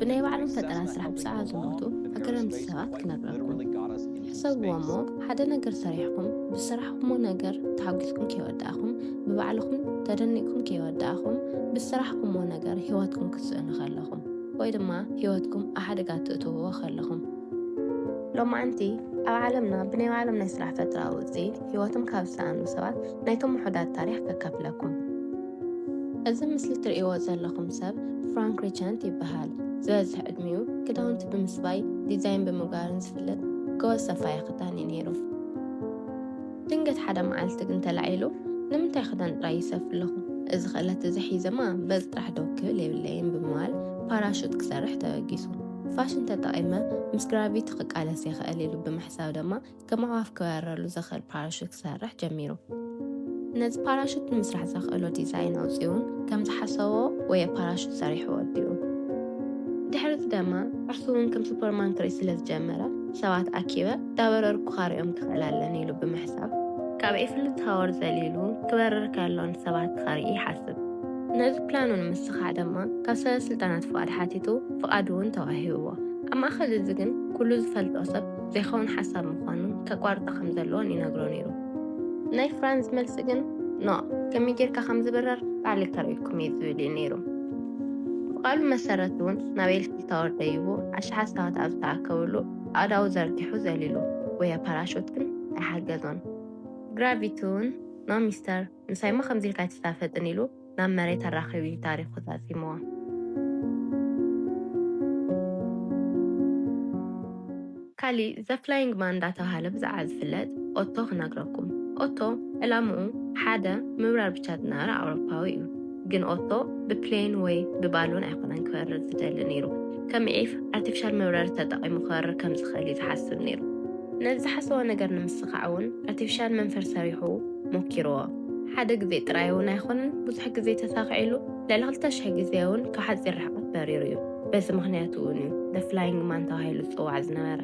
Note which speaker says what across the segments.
Speaker 1: ብናይ ባዕሎም ፈጠራ ስራሕ ብጻኣ ዝሞቱ ኣገረምቲ ሰባት ክነግረኩም። ሕሰብዎ እሞ ሓደ ነገር ሰሪሕኩም ብስራሕኩሞ ነገር ተሓጒስኩም ከይወዳእኹም ብባዕልኹም ተደኒቅኩም ከይወዳእኹም ብስራሕኩሞ ነገር ሂወትኩም ክትስእኑ ከለኹም ወይ ድማ ሂወትኩም ኣብ ሓደጋ ትእትውዎ ከለኹም ሎማዓንቲ ኣብ ዓለምና ብናይ ባዕሎም ናይ ስራሕ ፈጠራ ውጽኢት ሂወቶም ካብ ዝሰኣኑ ሰባት ናይቶም ውሑዳት ታሪኽ ከካፍለኩም። እዚ ምስሊ እትርእይዎ ዘለኹም ሰብ ፍራንክ ሪቸንት ይበሃል። ዝበዝሕ ዕድሚኡ ክዳውንቲ ብምስፋይ ዲዛይን ብምግባርን ዝፍለጥ ጎበዝ ሰፋይ ክዳን እዩ ነይሩ። ድንገት ሓደ መዓልቲ ግን ተላዒሉ ንምንታይ ክዳን ጥራይ ይሰፍ ኣለኹ እዚ ክእለት እዚ ሒዘማ በዚ ጥራሕ ዶ ክብል የብለይን ብምባል ፓራሹት ክሰርሕ ተበጊሱ። ፋሽን ተጠቒመ ምስ ግራቪቲ ክቃለስ ይኽእል ኢሉ ብምሕሳብ ድማ ከም ኣዕዋፍ ክበረሉ ዘኽእል ፓራሹት ክሰርሕ ጀሚሩ። ነዚ ፓራሹት ንምስራሕ ዘኽእሎ ዲዛይን ኣውፂኡን ከም ዝሓሰቦ ወይ ፓራሹት ሰሪሑ ወዲኡ። ድሕሪ እዚ ድማ ንሱ እውን ከም ሱፐርማን ክርኢ ስለ ዝጀመረ ሰባት ኣኪበ እንዳበረርኩ ካርኦም ክኽእል ኣለኒ ኢሉ ብምሕሳብ ካብ ኤፍል ታወር ዘሊሉ ክበርር ከሎ ንሰባት ክርኢ ይሓስብ። ነዚ ፕላኑ ንምስኻዕ ድማ ካብ ሰበስልጣናት ፍቓድ ሓቲቱ ፍቓድ እውን ተዋሂብዎ። ኣብ ማእኸል እዚ ግን ኩሉ ዝፈልጦ ሰብ ዘይከውን ሓሳብ ምዃኑን ከቋርጣ ከም ዘለዎን ይነግሮ ነይሩ። ናይ ፍራንዝ መልሲ ግን ኖ ከመይ ጌርካ ከም ዝብረር ባዕለይ ከርእየኩም እየ ዝብል እዩ ነይሩ። ብቓሉ መሰረት እውን ናብ ኤልሲ ታወር ደይቡ ኣሽሓት ሰባት ኣብ ዝተኣከብሉ ኣእዳው ዘርጊሑ ዘሊሉ፣ ጉያ ፓራሹት ግን ኣይሓገዞን። ግራቪቲ እውን ኖ ሚስተር ምሳይ'ሞ ከምዚ ኢልካ ኣይትሳፈጥን ኢሉ ናብ መሬት ኣራኺቡ እዩ ታሪኹ ዛዚምዎ። ካሊእ ዘፍላይንግ ማን እንዳተብሃለ ብዛዕባ ዝፍለጥ ኦቶ ክነግረኩም። ኦቶ ዕላምኡ ሓደ ምብራር ብቻ ዝነበረ ኣውሮፓዊ እዩ። ግን ኦቶ ብፕሌን ወይ ብባሎን ኣይኮነን ክበርር ዝደሊ ነይሩ። ከም ዒፍ ኣርቲፊሻል መብረሪ ተጠቒሙ ክበርር ከም ዝኽእል እዩ ዝሓስብ ነይሩ። ነዚ ዝሓሰቦ ነገር ንምስኻዕ እውን ኣርቲፊሻል መንፈር ሰሪሑ ሞኪርዎ። ሓደ ግዜ ጥራይ እውን ኣይኮነን፣ ብዙሕ ግዜ ተሳኺዕሉ፣ ልዕሊ ክልተ ሽሕ ግዜ እውን ካብ ሓጺር ርሕቐት በሪሩ እዩ። በዚ ምኽንያት እውን እዩ The Flying Man ተባሂሉ ዝጽዋዕ ዝነበረ።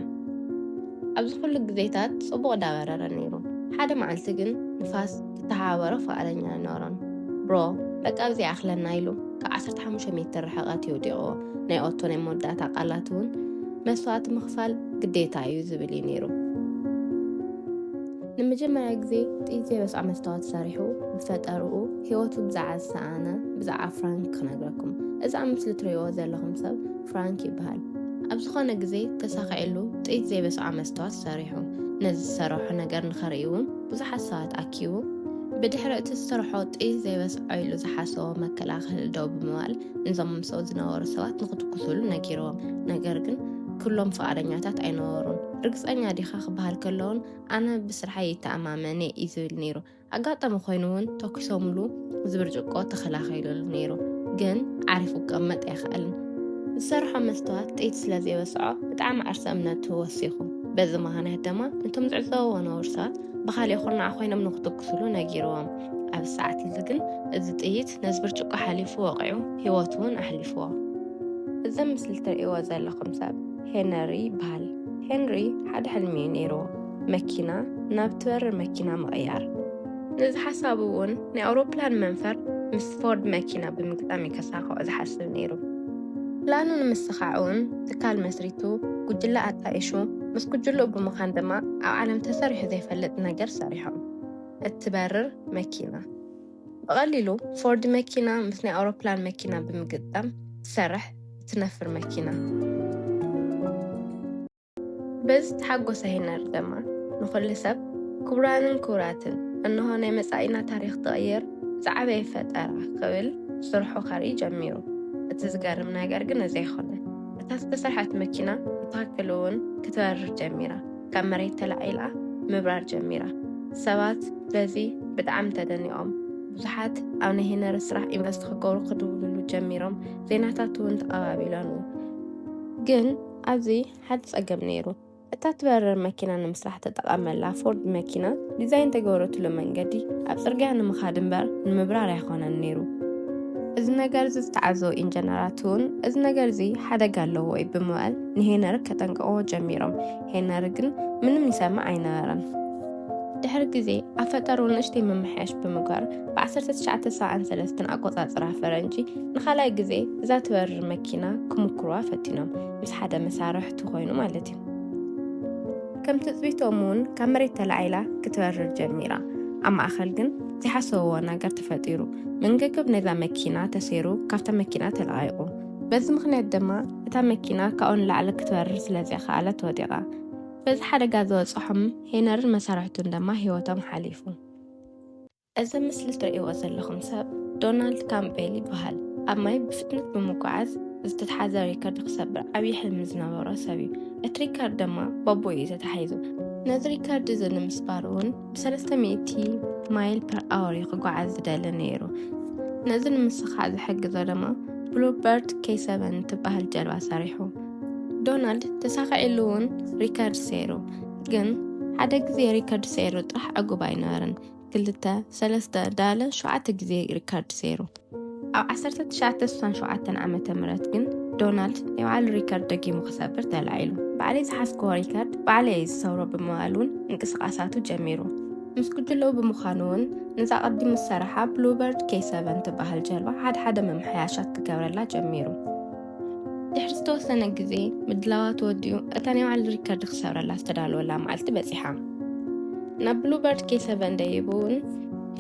Speaker 1: ኣብዚ ኩሉ ግዜታት ጽቡቕ ዳበረረ ነይሩ፣ ሓደ መዓልቲ ግን ንፋስ ዝተሓባበሮ ፍቓደኛ ኣይነበሮን። Bro፣ በቃ ኣብዚ ይኣኽለና ኢሉ ካብ ዓሰርተ ሓሙሽተ ሜትር ርሕቐት እዩ ወዲቕዎ። ናይ ኦቶ ናይ መወዳእታ ቃላት እውን መስዋእቲ ምኽፋል ግዴታ እዩ ዝብል እዩ ነይሩ። ንመጀመርያ ግዜ ጥይት ረስዓ መስታወት ሰሪሑ ብፈጠርኡ ህይወቱ ብዛዕባ ዝሰኣነ ብዛዕባ ፍራንክ ክነግረኩም እዚ ኣብ ምስሊ ትርእይዎ ዘለኹም ሰብ ፍራንክ ይበሃል ኣብ ዝኾነ ግዜ ተሳኺዕሉ ጥይት ዘይበስዖ መስተዋት ሰሪሑ ነዚ ዝሰረሖ ነገር ንኸርኢ እውን ብዙሓት ሰባት ኣኪቡ ብድሕሪ እቲ ዝሰርሖ ጥይት ዘይበስዖ ኢሉ ዝሓሰቦ መከላኸሊ ደው ብምባል ንዞም ምሰው ዝነበሩ ሰባት ንክትኩሱሉ ነጊርዎም ነገር ግን ኩሎም ፍቓደኛታት ኣይነበሩን ርግፀኛ ዲኻ ክበሃል ከለውን ኣነ ብስርሓይ ይተኣማመን እየ እዩ ዝብል ነይሩ። ኣጋጣሚ ኮይኑ እውን ተኪሶምሉ እዚ ብርጭቆ ተኸላኺሉሉ ነይሩ፣ ግን ዓሪፉ ክቀመጥ ኣይኸኣልን። ዝሰርሖ መስተዋት ጥይት ስለ ዘይበስዖ ብጣዕሚ ዓርሰ እምነቱ ወሲኹ። በዚ ምኽንያት ደማ ነቶም ዝዕዘብዎ ነበሩ ሰባት ብኻሊእ ኩርናዕ ኮይኖም ንክትኩሱሉ ነጊርዎም። ኣብዚ ሰዓት እዚ ግን እዚ ጥይት ነዚ ብርጭቆ ሓሊፉ ወቒዑ ህይወቱ እውን ኣሕሊፍዎ። እዚ ኣብ ምስሊ እትርእይዎ ዘለኹም ሰብ ሄነሪ ይበሃል። ሄንሪ ሓደ ሕልሚ እዩ ነይርዎ፣ መኪና ናብ ትበርር መኪና ምቕያር። ነዚ ሓሳቡ እውን ናይ ኣውሮፕላን መንፈር ምስ ፎርድ መኪና ብምግጣም እዩ ከሳኽዖ ዝሓስብ ነይሩ። ፕላኑ ንምስኻዕ እውን ትካል መስሪቱ፣ ጉጅለ ኣጣይሹ፣ ምስ ጉጅልኡ ብምዃን ድማ ኣብ ዓለም ተሰሪሑ ዘይፈልጥ ነገር ሰሪሖም፣ እትበርር መኪና። ብቐሊሉ ፎርድ መኪና ምስ ናይ ኣውሮፕላን መኪና ብምግጣም ትሰርሕ እትነፍር መኪና። በዚ ዝተሓጎሰ ሄነር ደማ ንኹሉ ሰብ ክቡራንን ክቡራትን እንሆ ናይ መጻኢና ታሪኽ ትቕይር ዝዓበየ ፈጠራ ክብል ስርሑ ከርኢ ጀሚሩ። እቲ ዝገርም ነገር ግን እዚ ኣይኮነን። እታ ዝተሰርሐት መኪና ብትኽክል እውን ክትበርር ጀሚራ። ካብ መሬት ተላዒላ ምብራር ጀሚራ። ሰባት በዚ ብጣዕሚ ተደኒቖም። ብዙሓት ኣብ ናይ ሄነሪ ስራሕ ኢንቨስት ክገብሩ ክድውልሉ ጀሚሮም፣ ዜናታት እውን ተቐባቢሎኑ። ግን ኣብዚ ሓደ ጸገም ነይሩ። እታ ትበርር መኪና ንምስራሕ ተጠቐመላ ፎርድ መኪና ዲዛይን ተገብረትሉ መንገዲ ኣብ ጽርግያ ንምኻድ እምበር ንምብራር ኣይኮነን ነይሩ። እዚ ነገር እዚ ዝተዓዘቡ ኢንጀነራት እውን እዚ ነገር እዚ ሓደጋ ኣለዎ እዩ ብምባል ንሄነሪ ከጠንቅቕዎ ጀሚሮም፣ ሄነሪ ግን ምንም ይሰምዕ ኣይነበረን። ድሕሪ ግዜ ኣብ ፈጠሩ ንእሽተይ ምምሕያሽ ብምግባር ብ1973 ኣቆጻጽራ ፈረንጂ ንኻልኣይ ግዜ እዛ ትበርር መኪና ክምክርዋ ፈቲኖም ምስ ሓደ መሳርሕቲ ኮይኑ ማለት እዩ ከም ትጽቢቶም እውን ካብ መሬት ተላዒላ ክትበርር ጀሚራ ኣብ ማእኸል ግን ዝሓሰብዎ ነገር ተፈጢሩ መንገገብ ነዛ መኪና ተሰይሩ ካብታ መኪና ተለቓይቑ በዚ ምኽንያት ድማ እታ መኪና ካብኡ ንላዕሊ ክትበርር ስለ ዘይከኣለት ወዲቓ። በዚ ሓደጋ ዝበጽሖም ሄነርን መሳርሕቱን ድማ ህይወቶም ሓሊፉ። እዚ ምስሊ ትርእይዎ ዘለኹም ሰብ ዶናልድ ካምፔል ይበሃል። ኣብ ማይ ብፍጥነት ብምጉዓዝ ዝተትሓዘ ሪከርድ ክሰብር ዓብዪ ሕልሚ ዝነበሮ ሰብ እዩ። እቲ ሪከርድ ድማ ባቦ እዩ ተታሒዙ። ነዚ ሪከርድ እዚ ንምስባር እውን ብሰለስተ ሚእቲ ማይል ፐር ኣወር እዩ ክጓዓዝ ዝደሊ ነይሩ ነዚ ንምስኻዕ ዝሕግዞ ድማ ብሉበርድ ኬ ሰቨን እትበሃል ጀልባ ሰሪሑ ዶናልድ ተሳኺዕሉ እውን ሪከርድ ሰይሩ ግን ሓደ ግዜ ሪከርድ ሰይሩ ጥራሕ ዕጉብ ኣይነበርን ክልተ ሰለስተ ዳለ ሸውዓተ ግዜ ሪከርድ ሰይሩ ኣብ 1967 ዓመተ ምህረት ግን ዶናልድ ናይ ባዕሉ ሪከርድ ደጊሙ ክሰብር ተላዒሉ። ባዕለይ ዝሓዝክዎ ሪከርድ ባዕለይ እየ ዝሰብሮ ብምባል እውን ምንቅስቓሳቱ ጀሚሩ። ምስ ጉጅለኡ ብምዃኑ እውን ነዛ ቀዲሙ ዝሰረሓ ብሉበርድ ኬይ ሰቨን ትበሃል ጀልባ ሓድሓደ ምምሕያሻት ክገብረላ ጀሚሩ። ድሕሪ ዝተወሰነ ግዜ ምድላዋ ተወዲኡ እታ ናይ ባዕሉ ሪከርድ ክሰብረላ ዝተዳለወላ መዓልቲ በፂሓ ናብ ብሉበርድ ኬሰቨን ደይቡ እውን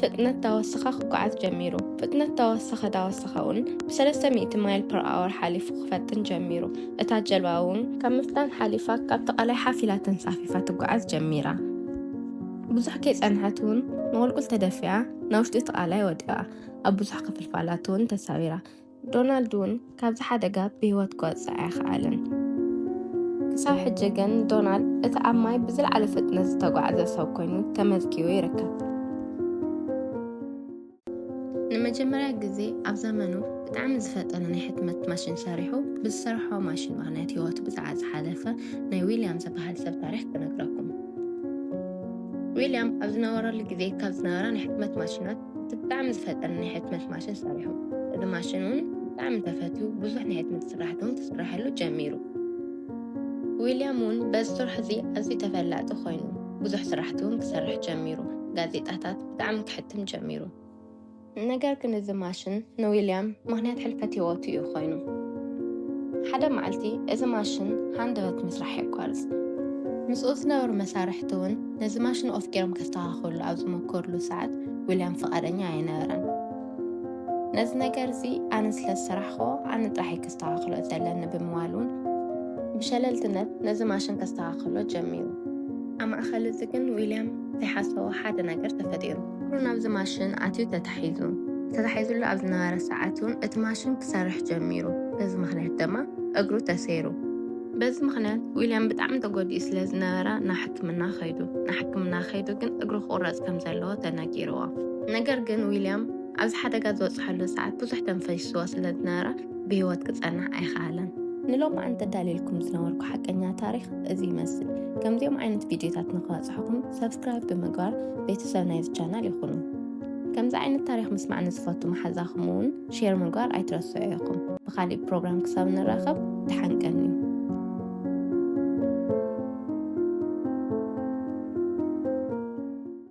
Speaker 1: ፍጥነት ዳወሰኻ ክጓዓዝ ጀሚሩ ፍጥነት ዳወሰኸ ዳወሰኸ እውን ብሰለስተ ሚእቲ ማይል ፐር ኣወር ሓሊፉ ክፈጥን ጀሚሩ እታ ጀልባ እውን ካብ ምፍጣን ሓሊፋ ካብቲ ቃላይ ሓፍ ኢላ ተንሳፊፋ ትጓዓዝ ጀሚራ ብዙሕ ከይፀንሐት እውን ንቁልቁል ተደፊኣ ናብ ውሽጢ እቲ ቃላይ ወዲቓ ኣብ ብዙሕ ክፍልፋላት እውን ተሳቢራ ዶናልድ እውን ካብዚ ሓደጋ ብህይወት ክወጽእ ኣይኸኣለን። ክሳብ ሕጂ ግን ዶናልድ እቲ ኣብ ማይ ብዝለዓለ ፍጥነት ዝተጓዕዘ ሰብ ኮይኑ ተመዝጊቡ ይርከብ። ንመጀመርያ ግዜ ኣብ ዘመኑ ብጣዕሚ ዝፈጠነ ናይ ሕትመት ማሽን ሰሪሑ ብዝሰርሖ ማሽን ምክንያት ህይወቱ ብዛዕባ ዝሓለፈ ናይ ዊልያም ዝበሃል ሰብ ታሪክ ክነግረኩም ዊልያም ኣብ ዝነበረሉ ግዜ ካብ ዝነበራ ናይ ሕትመት ማሽናት እቲ ብጣዕሚ ዝፈጠነ ናይ ሕትመት ማሽን ሰሪሑ። እዚ ማሽን እውን ብጣዕሚ ተፈትዩ ብዙሕ ናይ ሕትመት ስራሕቲ እውን ክስረሐሉ ጀሚሩ። ዊልያም እውን በዚ ስርሑ እዚ ኣዝዩ ተፈላጢ ኮይኑ ብዙሕ ስራሕቲ እውን ክሰርሕ ጀሚሩ። ጋዜጣታት ብጣዕሚ ክሕትም ጀሚሩ። ነገር ግን እዚ ማሽን ንዊልያም ምክንያት ሕልፈት ህይወቱ እዩ ኮይኑ። ሓደ መዓልቲ እዚ ማሽን ሃንደበት ምስራሕ የቋርፅ። ምስኡ ዝነበሩ መሳርሕቲ እውን ነዚ ማሽን ኦፍ ገይሮም ከስተኻኸሉ ኣብ ዝመከሩሉ ሰዓት ዊልያም ፍቓደኛ ኣይነበረን። ነዚ ነገር እዚ ኣነ ስለ ዝሰራሕኮ ኣነ ጥራሕይ ከስተኻኽሎ ዘለኒ ብምባል እውን ብሸለልትነት ነዚ ማሽን ከስተኻኽሎ ጀሚሩ። ኣብ ማእኸል እዚ ግን ዊልያም ዘይሓሰቦ ሓደ ነገር ተፈጢሩ። እግሩ ናብዚ ማሽን ኣትዩ ተታሒዙ። ተታሒዙሉ ኣብ ዝነበረ ሰዓት እውን እቲ ማሽን ክሰርሕ ጀሚሩ። በዚ ምክንያት ድማ እግሩ ተሰይሩ። በዚ ምክንያት ዊልያም ብጣዕሚ ተጎዲኡ ስለ ዝነበረ ናብ ሕክምና ከይዱ። ናብ ሕክምና ከይዱ ግን እግሩ ክቑረጽ ከም ዘለዎ ተነጊርዎ። ነገር ግን ዊልያም ኣብዚ ሓደጋ ዝበጽሐሉ ሰዓት ብዙሕ ደም ፈሲስዎ ስለ ዝነበረ ብህይወት ክጸንሕ ኣይኸኣለን። ንሎማዓንቲ ኣዳልየልኩም ዝነበርኩ ሓቀኛ ታሪኽ እዚ ይመስል። ከምዚኦም ዓይነት ቪድዮታት ንክበፅሕኹም ሰብስክራይብ ብምግባር ቤተሰብ ናይዚ ቻናል ይኹኑ። ከምዚ ዓይነት ታሪኽ ምስማዕ ንዝፈቱ መሓዛኹም እውን ሼር ምግባር ኣይትረስዑ ኢኹም። ብካሊእ ፕሮግራም ክሳብ ንራኸብ ደሓን ቀንዩ።